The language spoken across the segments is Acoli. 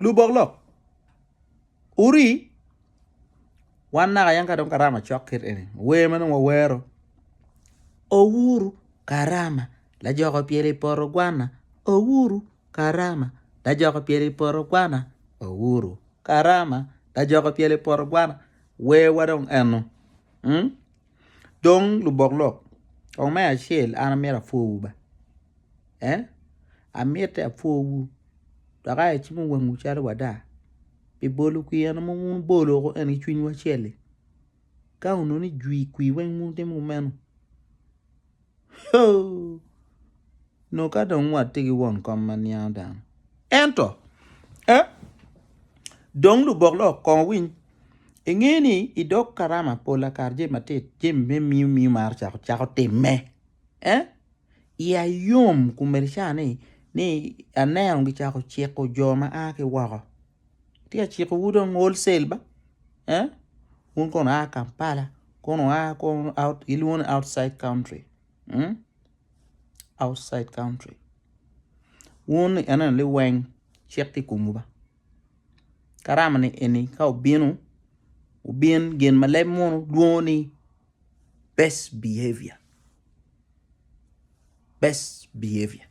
lubok lok uri wan naka yan ka dong karama cok kit eni wer ma dong wawero owuru karama lajok opyelo i poto gwana owuru karama lajok opyelo i poto gwana owuru karama lajok opyelo i poto gwana wer wa dong eno. Dong lubok lok kong me acel an amyero apwowu ba ee amyete apwowu dok aye acimo wangwu calo wada pi bolo kwir ma wun wubolo woko eni ki cwinywu acel-li ka onongo ni jwi kwir weng wun wutimo kumeno. Nongo ka dong watye ki won kom ma niango dano. Ento, ee, dong lubok lok kong wuwiny. Inge ni i dog Karama pol lakara jami matit, jami me miu miu maro cako cako timme. Ee, iya yom kumene cani ni aneno gicako ciko jo ma a ki woko. Atye ka cikowu dong wholesale ba eh wun kono wua Kampala kono wua kono gilwongo ni outside country mm outside country wun ni aneno liweng cek ki i komwu ba karama ni eni ka wubino wubin gin ma leb munu lwongo ni. Best behavior. Best behavior.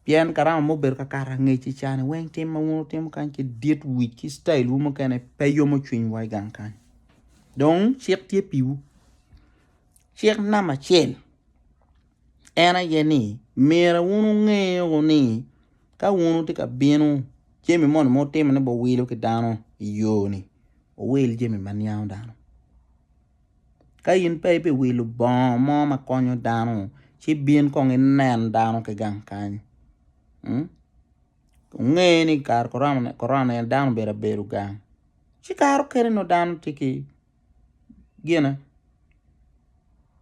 Pien karama mo bedo kakato angec ci cani weng tim ma wun utimo kany ci dit wic ki style wu mukene pe yomo cwiny wa i gang kany. Dong cik tye piwu. Cik namba acel en aye ni myero wun wunge woko ni ka wun wutye ka bino jami moni ma wutimo ni wuwilo ki dano i yo ni wuwil jami ma niango dano ka in pe ibi wilo bongo mo ma konyo dano ci bin kong inen dano ki gang kany wunge ni i kare korona ni dano obedo abedo gang ci kare mukene nongo dano tye ki gine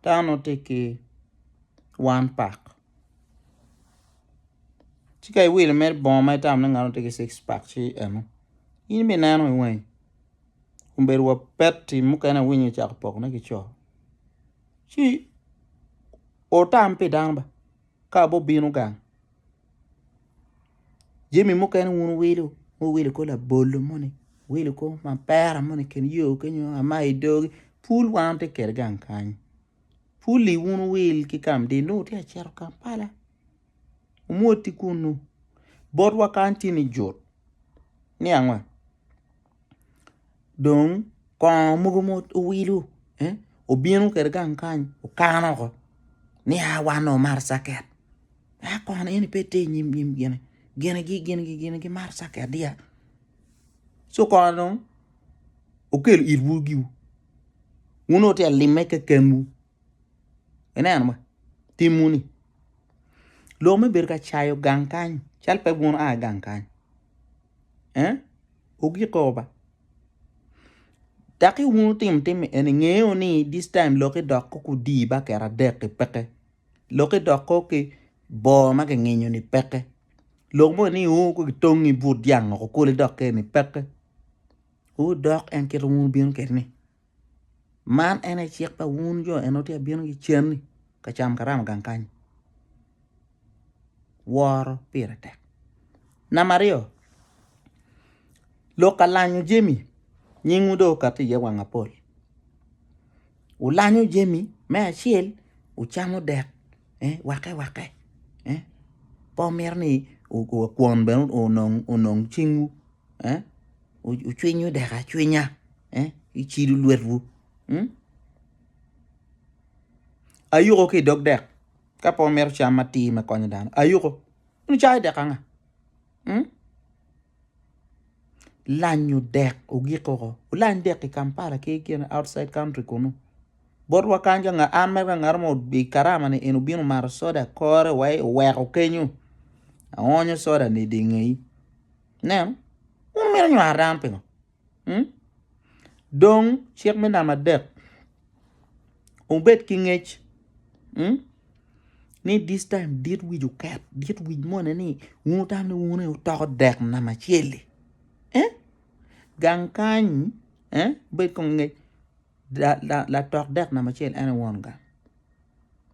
dano tye ki one pack ci ka iwilo mere bongo ma itamo ni ngat tye ki six pack ci eno in bene ineno i wangi obedo wa patti mukene awinyo ocako pokone ki co ci otam pi dano ba Ka obwo bino gang, jami mukene wun wuwilo, wuwilo kor labolo moni, wuwilo kor mapera moni ikin yo kenyo ama i dogi, pul wan watye kwede gang kany, pul-li wun wuwil ki kamding dong wutye ka cito Kampala, wumwotti kunnu. Botwa kany tye ni jut niang wa. dong kongo mogo ma owilo obino kwede gang kany okano woko ni a wan dong wamato caket ento kongo eni pe tye i nyim gine ginigi gin gimato caket dyang so kongo dong okelo it bur giwu wun dong wutye ka lime kekenwu. Ineno ma? Tim muni. Lok me bedo ka cayo gang kany, cal pe gun a gang kany. Eh? Ogikke oba. Daki wun tim tim eni ngeo ni this time loki dok ko kudi ba kera dek ki peke. Loki dok ko ki bor ma ki nginyo ni peke. Lok mo ni u ko ki tongi but dyang oko kuli dok keni peke. U dok en kito wun bino keni. Man en aye cik pa wun jo eno tye abino ki cen ka cam ka rama gang kany woro pire tek namba aryo lok ka lanyo jami nyingwu dong okato iye wang apol wulanyo jami me acel wucamo dek wake wake pe omito ni wakwon bene onong cingwu eh? Wucwinyo dek acwinya, eh? Icido lwetwu. Hmm? Ayuko ki i dog dek, ka po mito cam matir me konyo dano, ayuko. Wucayo dek anga? Hmm? Lanyo dek ogik oko. Wulany dek i Kampala ki i kine outside country kunu. Botwa kany ka nga- an mere ka ngat mo i karama-ni en obino mato soda kore wai oweko kenyo, aonyo soda-ni i di ngei. Nen, wun imito nyo Aram pingo? Dong cik me namba adek wubed ki ngec ni this time dit wic oket, dit wic mone ni wun wutamo ni wun aye wutoko dek namba acel-li. Gang kany wubed kong ki ngec latok dek namba acel en aye won gang.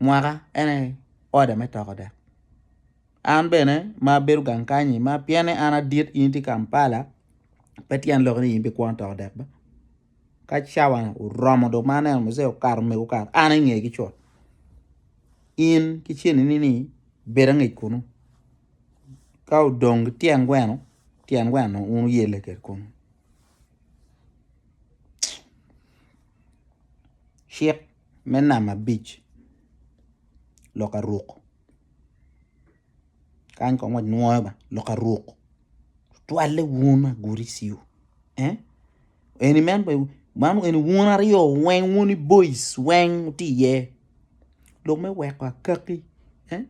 mwaka en aye oda me toko dek an bene ma abedo gang kany-nyi ma pien ni an adit in itye Kampala pe tyen lok ni in ibikwongo toko dek be ka cawa oromo dong ma aneno mujee okato omego okato an aye ingegi cut in ki cinini bed angec kunu ka odong ki tyen gweno tyen gweno dong un wuyelle kwede kunu cik. me namba abic lok aruk kany kong waci nwoyo ba lok aruk tutwalle wun Agurisio eh eni meno be man eni wun aryo weng wuni boic weng wutye iye lok me weko akaki eh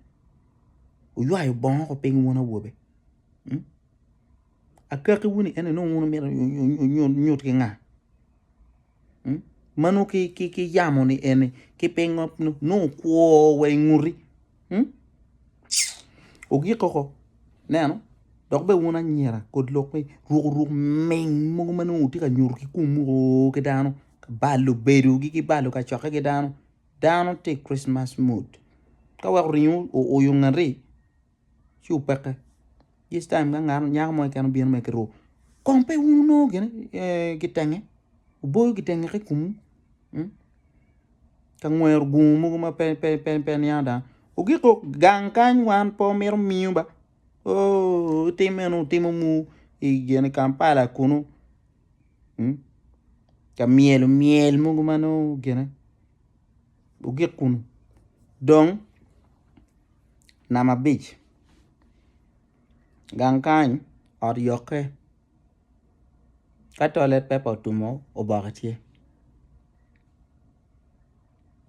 wuywayo bongo woko piny wun awobe akaki wuni eno inongo wun imito nyut ki nga? ma nongo ki yamo ni eni ki pingo nongo okwo wa inguti ogik koko neno dok bene wun anyira kod lok ni ruko ruk ming mogo ma nongo wutye ka nyuto ki kumu oo ki dano balo bedogi ki balo kacokke ki dano, dano tye i Christmas mood ka weko ringo oyo ngati. ci opeke this time ka ngat nyako mo keken obino mere ki ruu kong pe wun wunongo gin kitenge oboyo kitenge ki kumu ka ngwero gungu mogo ma pe pe pe pe niang dang ogiko gang kany wan pe wamito miyo ba oo itim mene wutimo mu i gin Kampala kunu ka myelo myel mogo ma nongo gine. ogik kunu dong namabic gang kany ot yokke ka toilet paper otumo oboke tye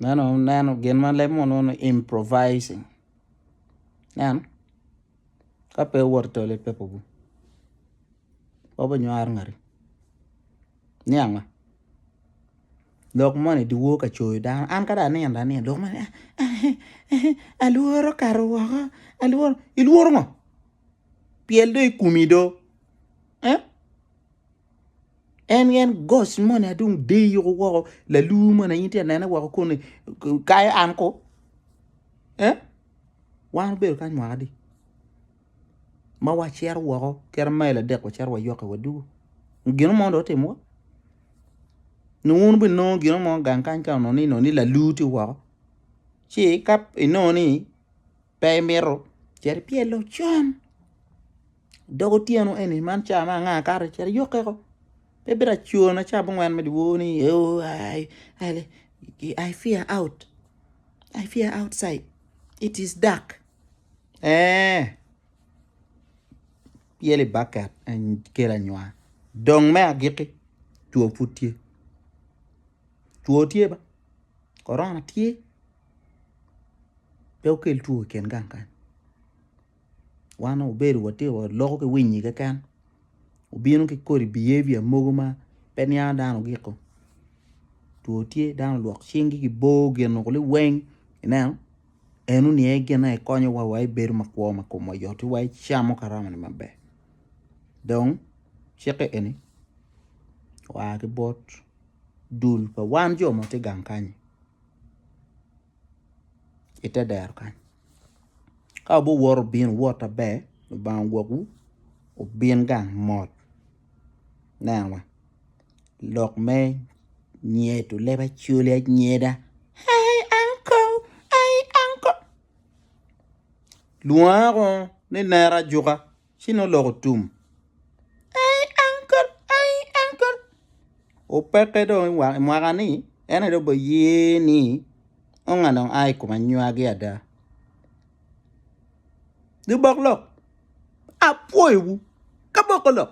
meno neno gin ma leb munu ni improvising nen kape iwoto i toilet paper-gu wabi nywaro ngati. Niang ma, lok moni dyewor ka coyo dano, an ka dong anino anino lok moni eeh eeh alworo kato woko alworo, ilworo ngo? Pyel do i kumi do eeh en en ghost moni aye dong deyo ko woko lalur moni aye in itye ka nene woko koni kayo an ko eeh wan obedo kany mwaka adi? ma wacito woko kit ma mail adek wacito wayokke wadugu gino mo dong otimowa nongo wun bene inongo gino mo gang kany ka onongo ni lalur tye woko ci ka inongo ni pe imito cit ipyelo con dog otyeno eni man cawa ma anga akato-ni cit iyokke ko pe bino acona cawa me bungwen me dyewor ni ooh I fear out I fear outside it is dark. Ee, pyel i baket kelo anywa. Dong me agikki, two pud tye. Two tye ba, korona tye, pe okel two i kin gang kany. Wan dong wabedo watye ka loko ki winyi keken, wubino ki kodi behavior mogo ma pe niango dano ogikko. Two tye, dano olwok cingi ki bo gin woko liweng, ineno. En oniye gin aye konyowa wa ebedo makwo ma komwa yot wa ecamo ka ramo ni maber dong cikke eni oa ki bot dul pa wan jo ma tye gang kany-nyi ite dero kany ka wubi woto obino wot aber Lubanga ogwokwu wubin gang mot. neno wa lok me nyeto leb acoli anyeda Hi uncle Hi uncle lwongo aye kong ni nera ajuka ci nongo oloko tum Hi uncle Hi uncle opeke dong i mwaka ni en aye dong oye ni onongo dong aa i kom anywagi ada lubok lok apwoyo wu ki boko lok.